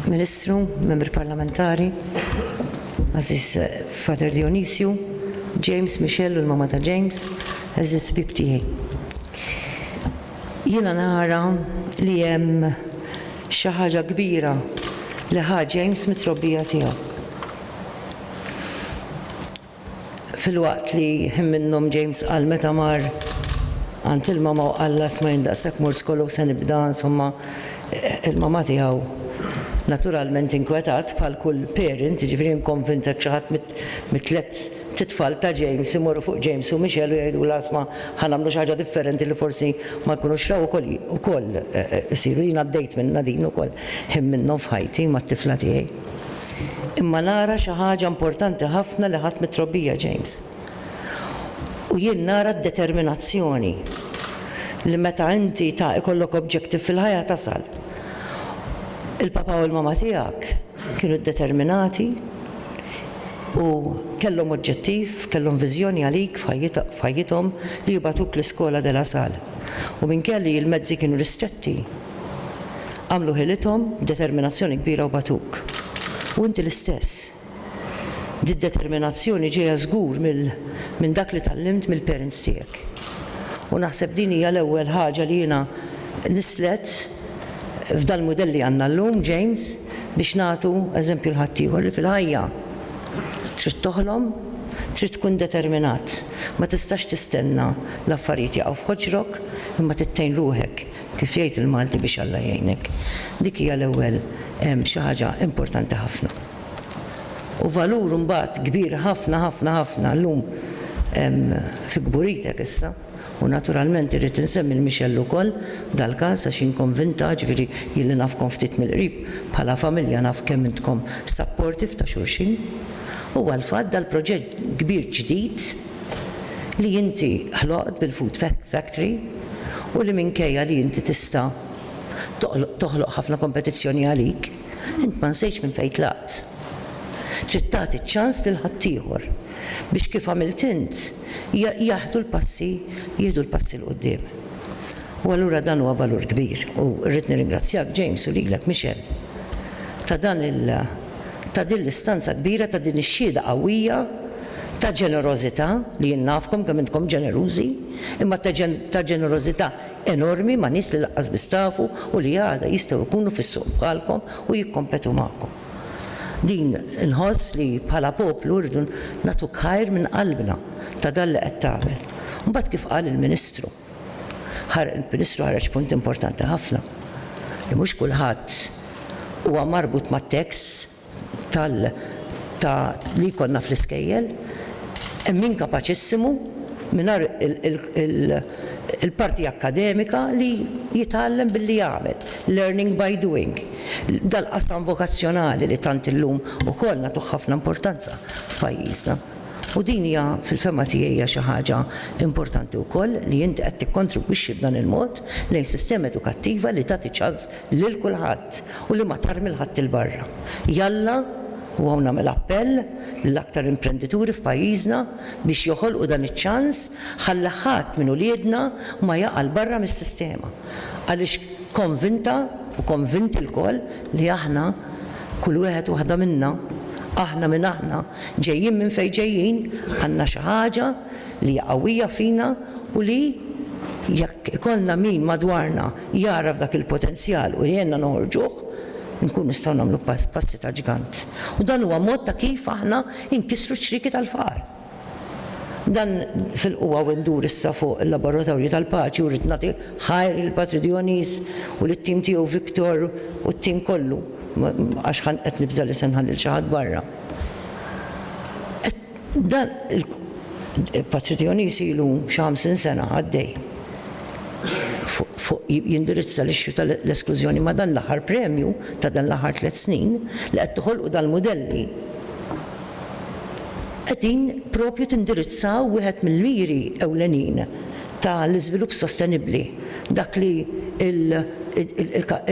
Ministru, membri parlamentari, Aziz eh, Father Dionisio, James Michel u l-mama ta' James, Aziz bib tiegħi. Jiena nara li hemm xi ħaġa kbira li ħa James mit-trobbija tiegħu. Filwaqt li ħin minnhom James qal meta mar għand il-mama u qallha isma' jien daqshekk mort skola u se nibda, insomma, il-mama tiegħu naturalment inkwetat bħal kull parent, jiġifieri jien konvint hekk xi ħadd mit-tliet titfal ta' James imorru fuq James u Michelle u jgħidulha isma' ħa nagħmlu xi ħaġa differenti li forsi ma jkunux raw ukoll ukoll isiru. Jien għaddejt minnha din ukoll ħin minnhom f'ħajti mat-tifla tiegħi. Imma nara xi ħaġa importanti ħafna li ħadt mit-trobbija, James. U jien nara d-determinazzjoni li meta inti ta' ikollok objective fil-ħajja tasal. Il-papà u l-mamà tiegħek kienu ddeterminati u kellhom oġġettiv, kellhom viżjoni għalik f'ħajjithom li jibgħatuk l-Iskola de la Salle. U minkejja li l-mezzi kienu ristretti, Għamlu ħilithom b'determinazzjoni kbira u bagħtuk. U inti l-istess. Did-determinazzjoni ġejja żgur mill minn dak li tgħallimt mill-parents tiegħek. U naħseb din hija l-ewwel ħaġa li jiena nislet f'dal-mudell li għandna llum, James, biex nagħtu eżempju l-ħaddieħor li fil-ħajja trid toħlom, trid tkun determinat. Ma tistax tistenna l-affarijiet jaqgħu f'ħoġrok imma trid tgħin ruħek Kif jgħid il-Malti biex Alla jgħinek. Dik hija l-ewwel xi ħaġa importanti ħafna. U valur imbagħad kbir ħafna ħafna ħafna llum fi kburitek issa, u naturalment irrid insemmi 'l Michelle ukoll f'dal-każ għax jien konvinta, ġifieri jien li nafkom ftit mill-qrib bħala familja naf kemm intkom supportive ta' xulxin, huwa l-fatt dal-proġett kbir ġdid li inti ħloqt bil-Food Factory. u li minkejja li inti tista' toħloq ħafna kompetizzjoni għalik, int ma nsejtx minn fejn tlaqt. Trid tagħti ċ-ċans lil ħaddieħor biex kif għamilt int jaħdu l-passi jieħdu l-passi 'l quddiem. U allura dan huwa valur kbir u rrid nirringrazzjak James u lilek Michel ta' dan il ta' din l-istanza kbira ta' din ix-xhieda qawwija ta' ġenerożità li jien nafkom kemm intkom ġenerużi. imma ta' ġenerożità enormi ma' nies li lanqas biss tafu u li għada jistgħu jkunu fis-suq bħalkom u jikkompetu magħkom. Din inħoss li bħala poplu rridu nagħtuk ħajr minn qalbna ta' dan li qed tagħmel. Mbagħad kif qal il-Ministru, il-Ministru ħareġ punt importanti ħafna li mhux kulħadd huwa marbut mat-tax, tal ta' li jkollna fl-iskejjel, hemm inkapaċissimu mingħajr il-parti akkademika li jitgħallem billi jagħmel, learning by doing. Dal-qasam vokazzjonali li tant illum ukoll nagħtuh ħafna importanza f'pajjiżna. U din hija fil-fehma tiegħi hija xi ħaġa importanti wkoll li inti qed tikkontribwixxi b'dan il-mod lejn sistema edukattiva li tagħti ċans lil kulħadd u li ma tarmi 'l ħadd 'il barra. Jalla, u hawn nagħmel appell lill-aktar imprendituri f'pajjiżna biex joħolqu dan iċ-ċans ħalli ħadd minn uliedna ma jaqa' 'l barra mis-sistema għaliex konvinta u konvinti lkoll li aħna, kull wieħed u waħda minna, aħna min aħna, ġejjin minn fejn ġejjin, għandna xi ħaġa li hija qawwija fina u li jekk ikollna min madwarna jagħraf dak il-potenzjal u jgħinna noħorġuh, inkunu nistgħu nagħmlu passi ta' ġgant. U dan huwa mod ta' kif aħna nkissru ċ-ċrieki tal-faqar. Dan fil-qwa u ndur issa fuq il-Laboratorju tal-Paċi u rrid nagħti ħajr lill-Patri Dionys u lit-tim tiegħu Victor u t-tim kollu, għax qed nibża' li se nħalli lil xi ħadd barra. Dan il-paċċitjonist ilu xi ħamsin sena għaddej fuq jindirizza l-issue tal-esklużjoni ma' dan l-aħħar premju ta' dan l-aħħar tliet snin li qed toħolqu dal-mudelli qegħdin propju tindirizzaw wieħed mill-miri ewlenin ta' l-iżvilupp sostenibbli dak li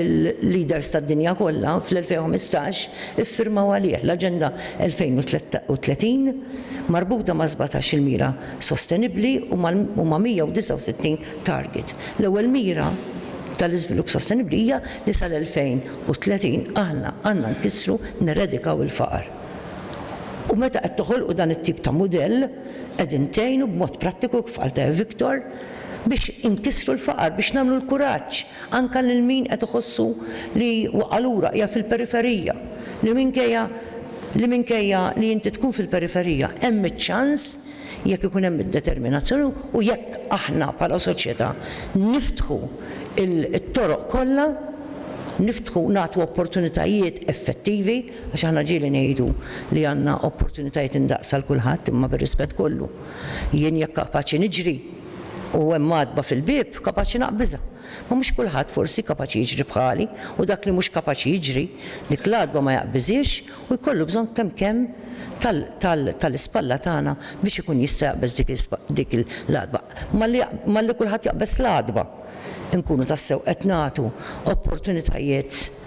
l-leaders tad-dinja kollha fl-2015 iffirmaw għalih l-Aġenda 2030 marbuta ma' sbatax-il mira sostenibbli u ma' 169 target. L-ewwel mira tal-iżvilupp sostenibbli hija li sal-2030 aħna għandna nkissru, neredikaw, il-faqar. U meta qed toħolqu dan it-tip ta' mudell qegħdin tgħinu b'mod prattiku, kif qal Viktor, biex inkissru l-faqar, biex nagħmlu l-kuraġġ anke lil min qed iħossu li waqa' lura, qiegħed fil-periferija, li minkejja li minkejja li inti tkun fil-periferija, hemm iċ-ċans, jekk ikun hemm id-determinazzjoni u jekk aħna bħala soċjetà niftħu t-toroq kollha, niftħu nagħtu opportunitajiet effettivi, għax aħna ġieli ngħidu li għandna opportunitajiet indaqs għal kulħadd, imma bir-rispett kollu, jien jekk kapaċi niġri, U hemm għatba fil-bieb, kapaċi naqbiżha. Ma mhux kulħadd, forsi, kapaċi jiġri bħali, u dak li mhux kapaċi jiġri, dik l-għatba ma jaqbiżhiex u jkollu bżonn kemm kemm tal-ispalla tagħna biex ikun jista' jaqbeż dik l-għatba. Malli malli kulħadd jaqbeż l-għatba, inkunu tassew qed nagħtu opportunitajiet.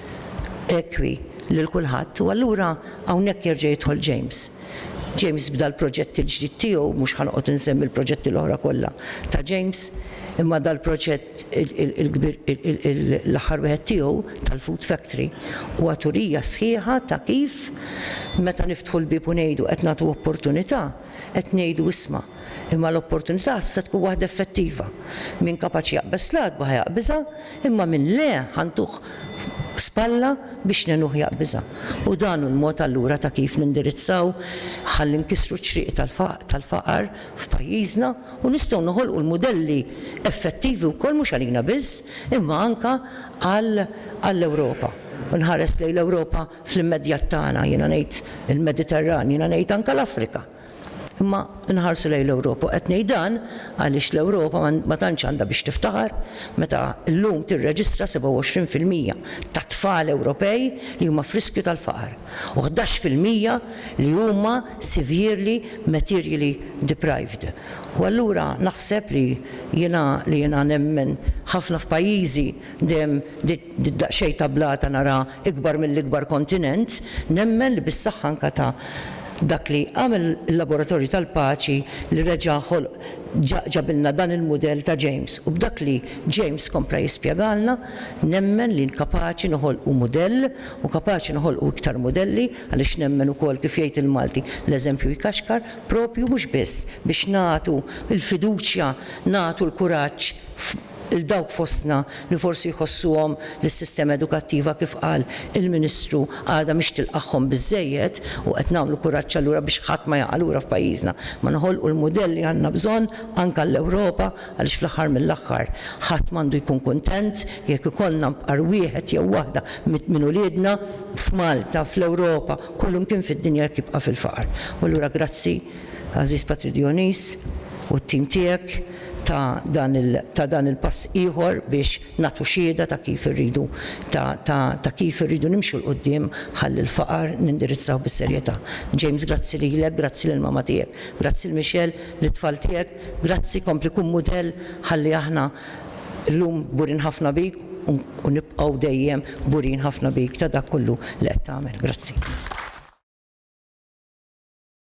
Rekwi lil kulħadd u allura hawnhekk jerġa' jidħol James. James bda l-proġett il-ġdid tiegħu, mhux ħa noqgħod insemmi l-proġetti l-oħra kollha ta' James, imma dal-proġett il-kbir l-aħħar wieħed tiegħu tal-food factory huwa turija sħiħa ta' kif meta niftħu l-bieb u ngħidu qed nagħtu opportunità, qed ngħidu isma' imma l-opportunità se tkun waħda effettiva. Min kapaċi jaqbeż l-għadba ħa jaqbiżha. Imma min le, ħa ntuh spalla biex ngħinuh jaqbiżha. U dan hu l-mod allura ta' kif nindirizzaw ħalli nkissru ċ-ċrieq tal-faqar f'pajjiżna u nistgħu noħolqu l-mudelli effettivi wkoll mhux għalina biss imma anke għall-Ewropa. U nħares lejn l-Ewropa fl-immedjat tagħna, jiena ngħid il-Mediterran, jiena ngħid anke l-Afrika. Imma nħarsu lejn l-Ewropa u qed ngħid dan għaliex l-Ewropa ma tantx għandha biex tiftaħar meta llum tirreġistra 27 fil-mija tat-tfal Ewropej li huma f'riskju tal-faqar u ħdax fil-mija li huma severely materially deprived. U allura naħseb li jiena li jiena nemmen ħafna f'pajjiżi dejjem Di daqsxejn ta' blata nara ikbar mill-ikbar kontinent, nemmen li bis-saħħa anka ta' dak li għamel il-Laboratorju tal-Paċi li reġa' ħolq ġabilna dan il-mudell ta' James u b'dak li James kompla jispjegalna, nemmen li kapaċi noħolqu mudell u kapaċi noħolqu iktar mudelli għaliex nemmen ukoll kif jgħid il-Malti l-eżempju jkaxkar, propju mhux biss biex nagħtu l-fiduċja, nagħtu l-kuraġġ, 'l dawk fostna li forsi jħossuhom li s-sistema edukattiva kif qal il-Ministru għadha mhix tilqagħhom biżżejjed u qed nagħmlu kuraġġ allura biex ħadd ma jaqa' lura f'pajjiżna ma noħolqu l-mudell li għandna bżonn anke għall-Ewropa għaliex fl-aħħar mill-aħħar ħadd m'għandu jkun kuntent jekk ikollna nfqar wieħed jew waħda minn uliedna f'Malta, fl-Ewropa, kullimkien fid-dinja jekk jibqa' fil-faqar. U allura grazzi. Għażiż Patrick Dionis u t-tim tiegħek ta' dan il ta' dan il-pass ieħor biex nagħtu xhieda ta' kif irridu ta' ta' ta' kif irridu nimxu 'l quddiem ħalli l-faqar nindirizzawh bis-serjetà. James grazzi lilek, grazzi lill-mama tiegħek, grazzi 'l Michelle, lit-tfal tiegħek, grazzi kompli kun mudell ħalli aħna llum kburin ħafna bik u u nibqgħu dejjem kburin ħafna bik ta' dak kollu li qed tagħmel. Grazzi.